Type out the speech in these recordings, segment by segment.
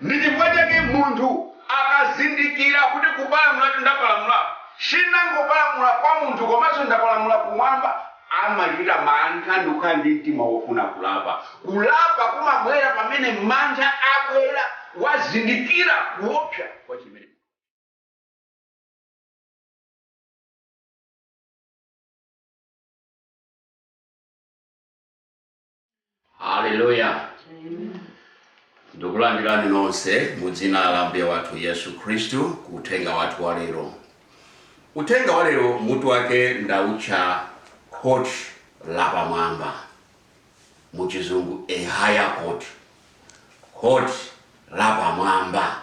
Ndi chifukwa chake munthu akazindikira kuti kupalamulatu ndapalamula, sindinangopalamula kwa munthu komanso ndapalamula kumwamba, amachita mantha ndikukhala ndi mtima wofuna kulapa. Kulapa kumabwera pamene mantha abwera, wazindikira kuopsa kwa chimene. haleluya ndikulandirani nonse mu dzina la mbuye wathu yesu khristu ku uthenga wathu wa lero uthenga wa lero mutu wake ndautcha court lapamwamba mu chizungu a higher court court lapamwamba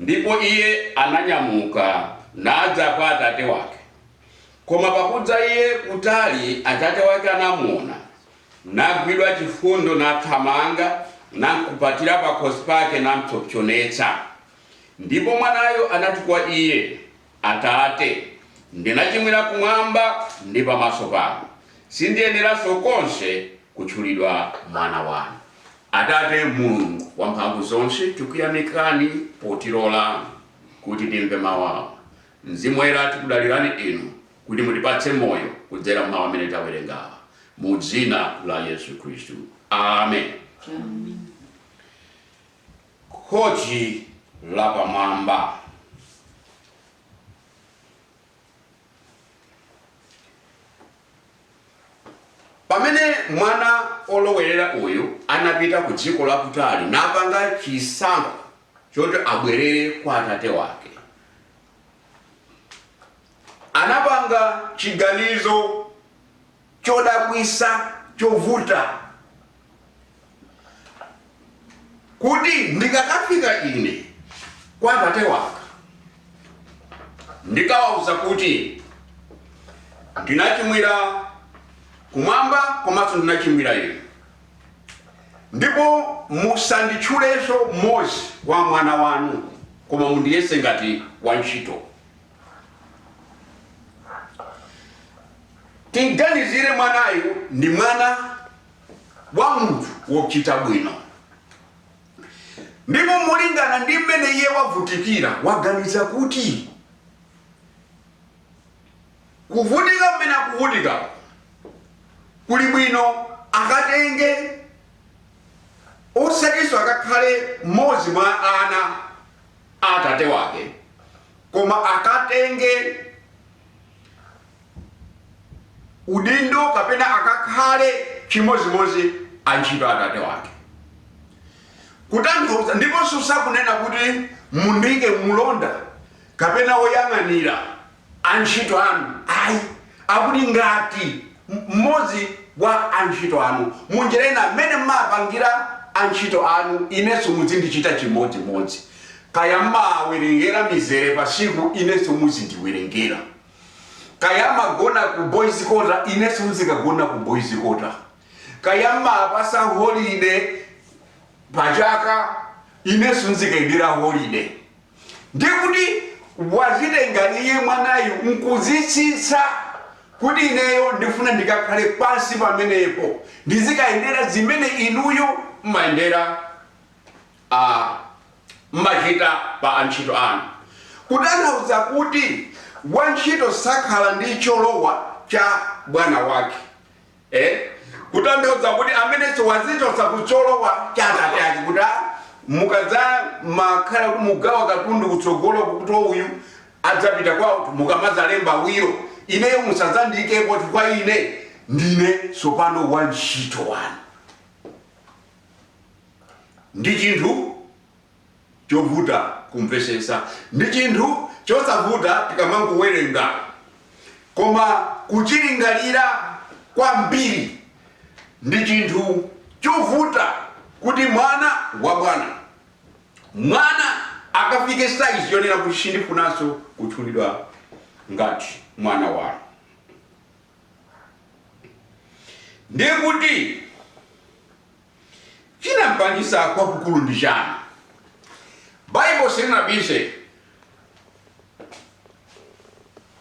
Ndipo iye ananyamuka, nadza kwa atate wake. Koma pakudza iye kutali atate wake anamuona, nagwidwa chifundo, nathamanga, namkupatira pakhosi pake, nampsopsonetsa. Ndipo mwanayo anati kwa iye. Atate, ndinachimwira kumwamba ndi pamaso panu. Sindiyeneranso konse kutchulidwa mwana wanu. Atate Mulungu wamphamvuzonse, tikuyamikani potilola kuti timve mawu awa. Mzimu Woyera, tikudalirani Inu kuti mutipatse moyo kudzera m'mawu amene tawerengawa. Mu dzina la Yesu Khristu. Amen. Khoti Lapamwamba Pamene mwana olowerera uyu anapita ku dziko lakutali napanga chisankho choti abwerere kwa atate wake, anapanga chiganizo. chodabwisa chovuta kuti ndikakafika ine kwa atate wanga ndikawauza kuti ndinachimwira kumwamba komanso ndinachimwira inu ndipo musanditchulenso mmodzi wa mwana wanu koma mundiyese ngati wantchito Timganizire mwanayu ndi mwana wa munthu wochita bwino, ndipo molingana ndi mmene iye wavutikira, waganiza kuti kuvutika mmene akuvutika kuli bwino akatenge osatinso akakhale mmodzi mwa ana a atate wake Koma akatenge udindo kapena akakhale chimodzimodzi antchito a atate wake. Kutanthauza ndiponso sakunena kuti mundiike mlonda kapena woyang'anira antchito anu ayi. Akuti ngati mmodzi wa antchito anu. Munjira ina, mmene mmapangira antchito anu inenso mudzindichita chimodzimodzi. Kaya mmawawerengera mizere pa tsiku inenso muzindiwerengera. Kaya mmagona ku boys kota inenso nzikagona ku boys kota. Kaya mmawapatsa holiday pa chaka inenso nzikalandira holiday. Ndiye kuti wazitenga iye mwanayu nkuzitsitsa kuti ineyo ndifuna ndikakhale pansi pamenepo ndizikayendera zimene inuyo. m'machita pa antchito anu, kutanthauza kuti wantchito sakhala ndi cholowa cha bwana wake, kutanthauza kuti amenenso wazichotsa ku cholowa cha atate ake, kuti mukadzamakhala kuti mugawa katundu kutsogoloku kuti uyu adzapita kwawo, mukamadzalemba wilo, ineyo musadzandiikepo chifukwa ine ndine tsopano wantchito wanu. ndi chinthu chovuta kumvesetsa. Ndi chinthu chosavuta tikamangowerenga. Koma kuchilingalira kwambiri ndi chinthu chovuta kuti mwana wa bwana, mwana akafike size yonena kuti sindifunanso kutchulidwa ngati mwana wanu. Ndiye kuti. Chinam'pangitsa kwakukulu ndi chani? Baibo sinabise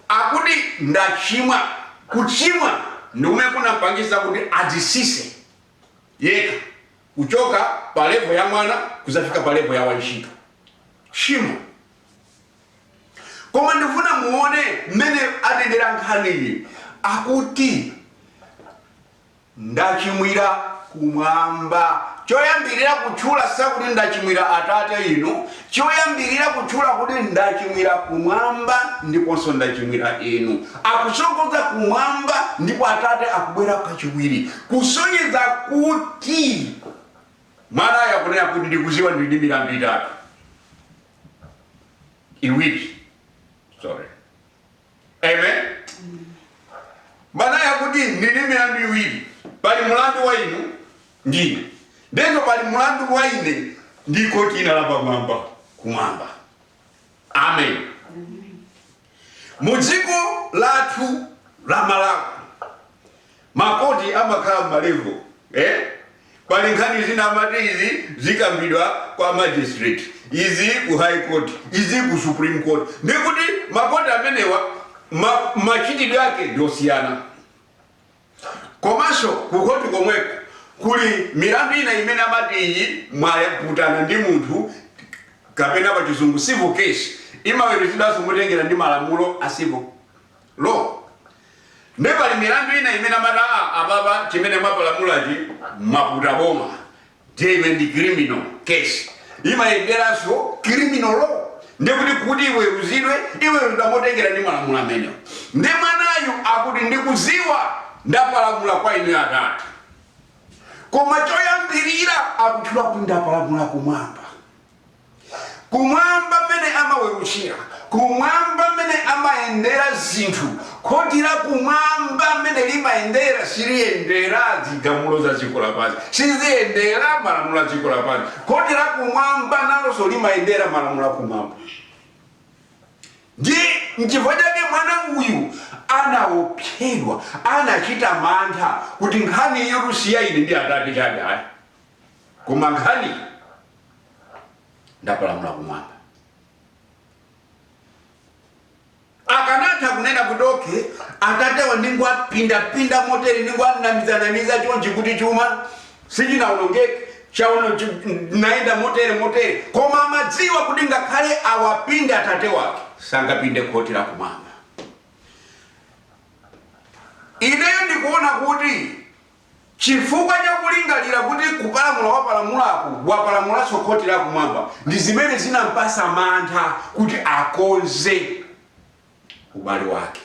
akuti ndachimwa. Kuchimwa ndi kumene kunam'pangitsa kuti adzisise yekha kuchoka pa levo ya mwana kuzafika pa levo ya wantchito. Tchimo. Koma ndifuna muone mmene akuitengera nkhaniyi akuti Ndachimwira Kumwamba. Choyambirira kutchula sakuti ndachimwira Atate inu, choyambirira kutchula kuti ndachimwira Kumwamba ndiponso ndachimwira inu. Akusogoza Kumwamba ndipo Atate akubwera kachiwiri kusonyeza kuti Mwanayo akunena kuti ndikuziwa ndili ndi milandu itatu, iwiri, sorry. amen mwanayu akuti ndili milandu iwiri pali mulandu wa inu ndine ndipo pali mulandu wa ine ndi khoti lina lapamwamba kumwamba amen mu dziko lathu la malawi Ma court amakhala ma level ee pali nkhani zina amati izi zikambidwa kwa magistrate izi ku high court izi ku supreme court ndiye kuti ma court amenewa machitidwe ake ndi osiyana komanso ku court komweko kuli milandu ina imene amati iyi mwaputana ndi munthu kapena pa chizungu civil case imaweruzidwanso motengera ndi malamulo a civil Law. Ndiye pali milandu ina imene amati, aa, apapa chimene mwapalamulachi mwaputa boma. Ndiye iwe ndi criminal case. Imayenderanso criminal law. Ndiye kuti, kuti iweruzidwe, iweruzidwa motengera ndi malamulo amenewo. Ndiye mwanayu akuti, Ndikudziwa ndapalamula kwa inuyo Atate. Koma choyambirira akutchula kuti ndapalamula kumwamba. Kumwamba mmene amaweruzira, Kumwamba mmene amayendera zinthu, Khoti la Kumwamba mmene limayendera, siliyendera zigamulo za dziko lapansi, siliyendera malamulo a dziko lapansi. Khoti la Kumwamba nalonso limayendera malamulo a Kumwamba. Ndiye nchifukwa chake mwana uyu anaopsedwa, anachita mantha kuti nkhani iyi kuti si ya ine ndi Atate chabe ayi. koma nkhani ndapalamula kumwamba akanatha kunena kuti okay atatewa ndingowapindapinda motere ndingowanamizanamiza chonchi kuti chuma sichinawonongeke chaono chi- naenda motere motere koma amadziwa kuti ngakhale awapinde atate wake sangapinde khoti la kumwamba ineyo ndikuona kuti Chifukwa cha kulingalira kuti kupalamula wapalamulaku wapalamulanso khoti lakumwamba ndi zimene zinampatsa mantha kuti akonze ubale wake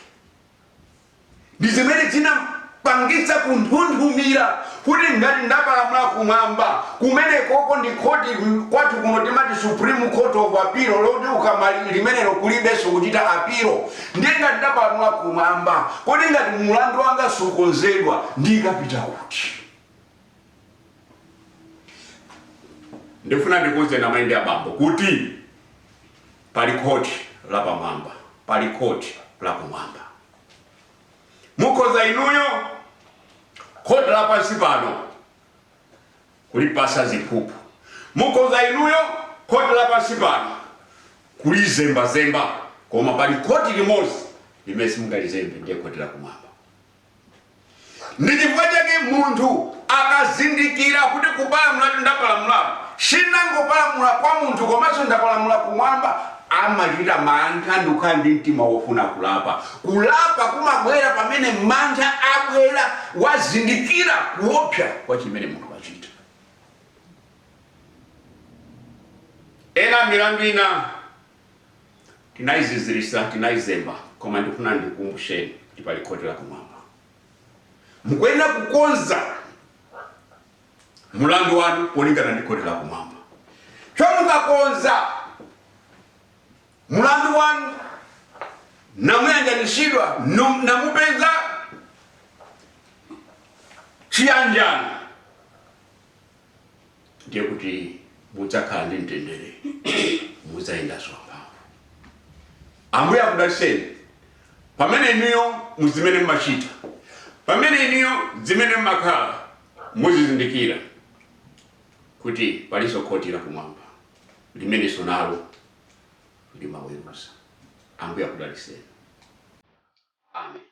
ndi zimene zinampangitsa kunthunthumira kuti ngati ndapalamula kumwamba, kumenekoko ndi khoti kwathu kuno timati Supreme Court of Appeal loti ukamaliza limenelo kulibenso kuchita apilo Ndiye ngati ndapalamula Kumwamba, kodi ngati mulandu wanga sukonzedwa, ndikapita kuti? Ndifuna ndikuuzeni amai ndi abambo kuti pali khoti la pamwamba, pali khoti la Kumwamba. Mukhoza inuyo khoti la pansi pano. kulipasa ziphuphu. Mukhoza inuyo khoti la pansi pano kulizembazemba, koma pali khoti limodzi limene simungalizembe, ndiye khoti la kumwamba. Ndi chifukwa chake munthu akazindikira kuti kupalamulatu ndapalamulatu, sindangopalamula kwa munthu komanso ndapalamula kumwamba, amachita mantha ndi kukhala ndi mtima wofuna kulapa. Kulapa kumabwera pamene mantha abwera wazindikira kuopsa kwa chimene munthu wachita. Ena milandu ina tinaizizirisa, tinaizemba, koma ndikufuna ndikukumbusheni kuti pali khoti la kumwamba. Mukuyenera kukonza mulandu wanu molingana ndi khoti la kumwamba. Choncho mukakonza mulandu wanu namuyanjanitsidwa namupeza chiyanjano ndiye kuti mudzakhala ndi mtendere mudzayendanso mphamvu ambuye akudalitseni pamene inuyo muzimene mmachita pamene inuyo zimene mmakhala Muzizindikira kuti palinso khoti lakumwamba limenenso nalo limaweruza. Ambuye akudalitseni. Amen.